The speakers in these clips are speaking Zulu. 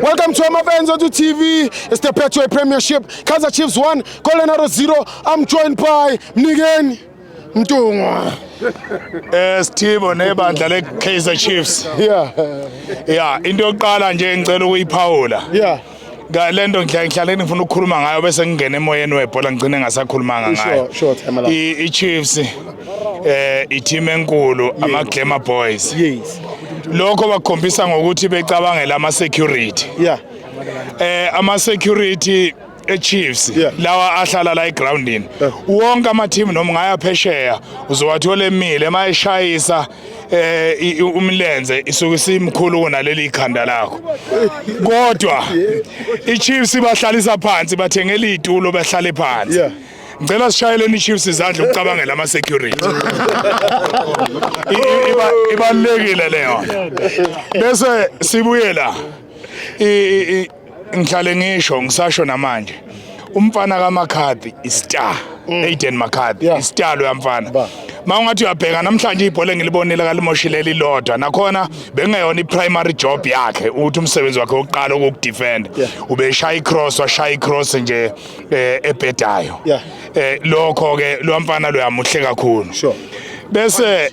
Welcome to my fans on the TV. It's the Petro Premiership. Kaizer Chiefs 1, Colorado 0. I'm joined by Mnigen Mtungwa. Yes, team on ebandla le Kaizer Chiefs. Yeah. Yeah, into yokuqala nje ngicela ukuyiphawula. Yeah. le nto ngihlale ngifuna ukukhuluma ngayo bese ngingena emoyeni webhola ngigcine ngasakhulumanga ngayo i-chiefs um eh, i-team enkulu ama-glamour boys lokho bakukhombisa ngokuthi becabangela ama-security um eh, ama-security eChiefs yeah. lawa ahlala la egroundini yeah. wonke ama team noma ngaya phesheya uzowathola emile mayeshayisa eh umlenze isuke isimkhulu kunaleli ikhanda lakho kodwa iChiefs ibahlalisa phansi bathengela izitulo bahlale phansi ngicela sishayeleni iChiefs izandla ukucabangela ama security ibalekile leyo bese sibuye la ngihlale ngisho ngisasho namanje umfana kaMcCarthy istar mm. Aiden McCarthy yeah. istar lo yamfana mawungathi uyabheka namhlanje ibhola engilibonile kalimoshile lilodwa nakhona bengeyona i-primary job yakhe ukuthi umsebenzi wakhe wokuqala ukukudefend ubeshaya i-cross washaya i-cross nje eh, ebhedayo eh, lokho-ke lo mfana lo yamuhle kakhulu bese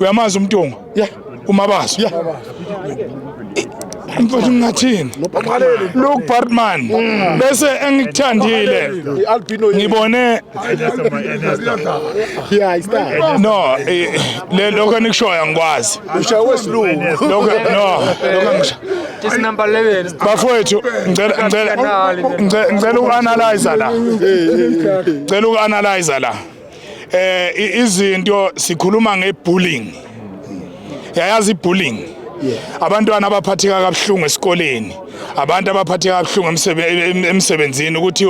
uyamazi umtungo yeah umabaso yeah mfowethu ngingathini look partman mm. bese engikuthandile ngibone no eh, le lokho enikushoyo angikwazi ushaye wesilungu lokho no lokho ngisho just number 11 bafowethu ngicela ngicela ngicela uanalyze la ngicela uanalyze la eh izinto sikhuluma ngebullying yayazi ibullying abantwana abaphatheka kabuhlungu esikoleni abantu abaphatheka kabuhlungu emsebenzini ukuthi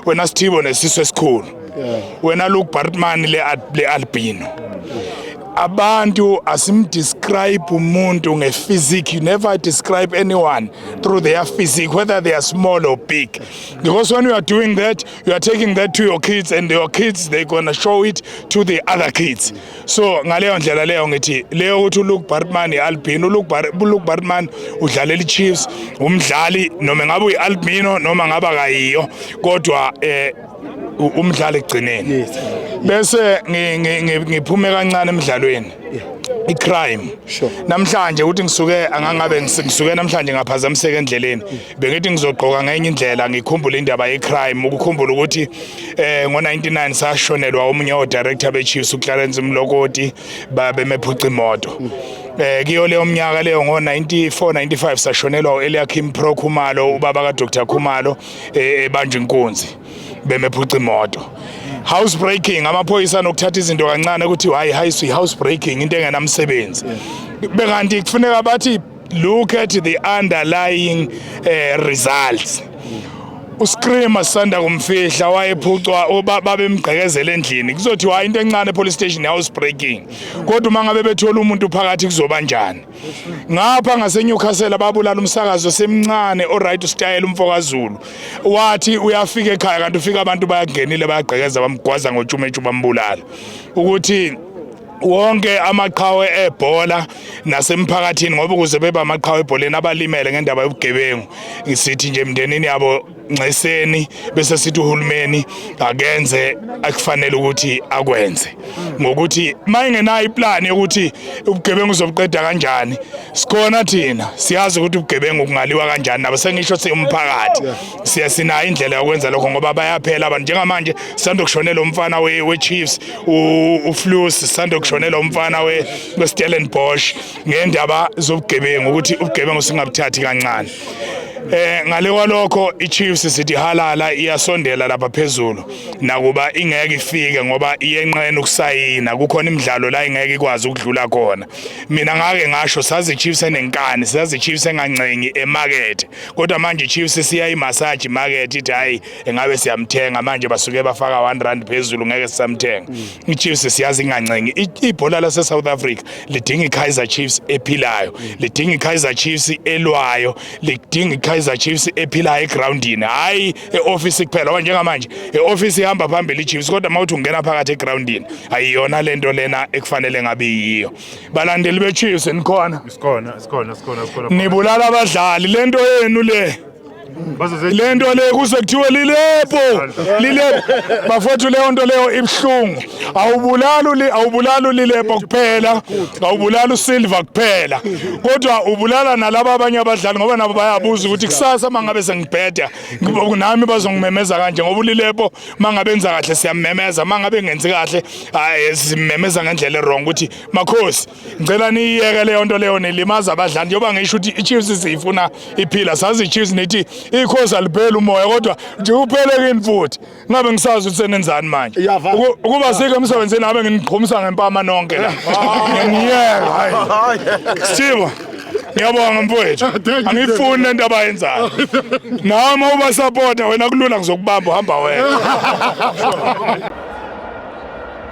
wena sithibo nesiso esikhulu wena Luke Bartman le albino abantu asimdescribe umuntu ngephysique you never describe anyone through their physique whether they are small or big because when you are doing that you are taking that to your kids and your kids they gonna show it to the other kids so ngaleyo ndlela leyo ngithi leyo ukuthi uLuke Bartman iAlbino uLuke Bar uLuke Bartman udlalela iChiefs umdlali noma ngabe uyiAlbino noma ngaba kayiyo kodwa eh umdlali egcineni bese ngiphume kancane emidlalweni icrime sure. namhlanje ukuthi ngisuke angangabe ngisuke namhlanje ngaphazamiseka endleleni bengithi ngizogqoka ngenye indlela ngikhumbule indaba yecrime ukukhumbula ukuthi eh ngo99 sashonelwa omunye odirector beChiefs uClarence Mlokoti babemephuca imoto eh kiyo leyo mnyaka leyo ngo94 95 sashonelwa uEliakim Pro Khumalo ubaba kaDr Khumalo eh, ebanje inkunzi bemephuca imoto house breaking amaphoyisa anokuthatha izinto kancane ukuthi hayi hayi house breaking into engenamsebenzi bekanti kufuneka bathi Look at the underlying uh, results. uScreamer sisanda kumfihla wayephucwa babemgqekezela endlini kuzothi hayi into encane police station house breaking kodwa uma ngabe bethola umuntu phakathi kuzoba njani ngapha ngaseNewcastle babulala umsakazo semncane oright usitayela umfokazulu wathi uyafika ekhaya kanti ufika abantu bayagenile bayagqekeza bamgwaza ngotshumethu bambulala ukuthi wonke amaqhawe ebhola nasemphakathini ngoba ukuze beba amaqhawe ebholeni abalimele ngendaba yobugebengu ngisithi nje emndenini yabo nxeseni bese sithi uhulumeni akenze akufanele ukuthi akwenze ngokuthi mayingenayo iplan yokuthi ubugebengu uzobuqeda kanjani sikhona thina siyazi ukuthi ubugebengu kungaliwa kanjani nabo sengisho siumphakathi siya sinayo indlela yokwenza lokho ngoba bayaphela abantu njengamanje sisanda kushonela umfana we-chiefs uflus sisanda kushonela umfana westellenbosch ngendaba zobugebengu ukuthi ubugebengu singabuthathi kancane Eh ngale kwalokho iChiefs sithi halala iyasondela lapha phezulu nakuba ingeke ifike ngoba iyenqena ukusayina kukhona imidlalo la ingeke ikwazi ukudlula khona mina ngake ngasho sazi iChiefs enenkani sazi iChiefs engancengi emarket kodwa manje iChiefs siya imassage market ithi hayi engabe siyamthenga manje basuke bafaka 1 rand phezulu ngeke sisamthenga mm. iChiefs siyazi ingancengi ibhola lase South Africa lidinga iKaizer Chiefs ephilayo mm. lidinga iKaizer Chiefs elwayo lidinga iKaizer Chiefs ephilayo egroundini hayi eoffice kuphela ngoba njengamanje eoffice ihamba phambili iChiefs kodwa mawuthi ungena phakathi egroundini ayiyona lento lena ekufanele ngabe yiyo balandeli beChiefs nikhona sikhona sikhona sikhona nibulala abadlali lento yenu le le nto le kuze kuthiwe lilepo lilepo bafowethu leyo nto leyo ibuhlungu awubulali awubulali ulilepo kuphela awubulali usilva kuphela kodwa ubulala nalaba abanye abadlali ngoba nabo bayabuza ukuthi kusasa mangabe sengibheda nami bazongimemeza kanje ngoba ulilepo mangabe enza kahle siyamemeza mangabe engenzi kahle hayi simemeza ngendlela erong ukuthi makhosi ngicela niyiyeke leyo nto leyo nilimaza abadlali njengoba ngisho ukuthi ichiefs siyifuna iphila sazi ichiefs nithi ikhosi alipheli umoya kodwa nje uphelekini futhi ngabe ngisazi ukuthi senenzani manje ukuba sike emsebenzini ngabe nginiqhumisa ngempama nonke la ngiyeka hayi sithiba ngiyabonga mfowethu angiyifuni lento abayenzayo nawe uma ubasapota wena kulula ngizokubamba uhamba wena